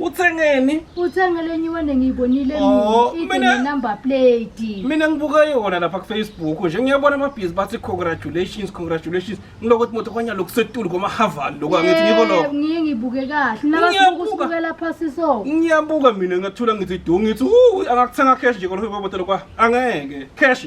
uthengeni uthenge lenye iwande ngiyibonile oh, number plate mina ngibuka yona lapha kufacebook nje ngiyabona amabhizi bathi congratulations congratulations ngiloko ukuthi moto kwanya lokusetulu kwamahaval lokhu angithi ngiko lokho ngiye ngibuke kahle nabasukela phasi so ngiyabuka mina ngathula ngithi du ngithi angakuthenga cash nje kolokho kwabotelo kwa angeke cash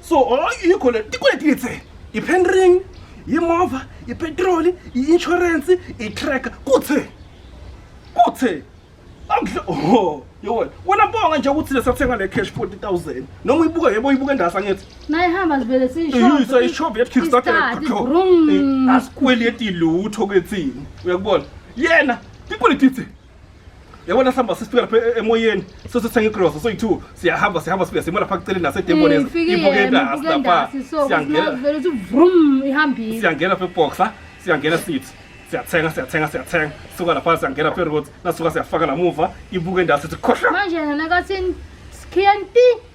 so oh, yikho le tikweleti ngithe i-pen ring yimova ipetroli i-inshorensi i-tracker kuthe kuthe akudle oh yona wena bonga nje ukuthi lesathenga le cash 40000 noma uyibuka yebo uyibuka endasa ngithi naye hamba sivele siyisho ishobe yathi kickstarter asikweleti lutho kethini uyakubona yena tipolitithe yabona sihamba sifika lapha e- emoyeni sesithenga igrosa soyi-two siyahamba sihamba sifika simo lapha kuceleni nasedemoni ibukendasi lapha siyangena vele uthi vrum ihambile siyangena lapha eboxa siyangena sithi siyathenga siyathenga siyathenga suka lapha siyangena lapha eroad nasuka siyafaka namuva ibuke endasi sithi khohla manje nana kathini sikhiya nti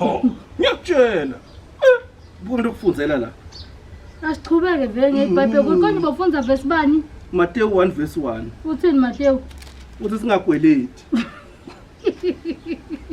Oh, ngiyakutshela. Eh, Buka into okufundela la. Asichubeke vele ngeBhayibheli ukuthi konje bafundza verse bani? Matewu 1 verse 1. Uthini Matewu? Uthi singagweleti.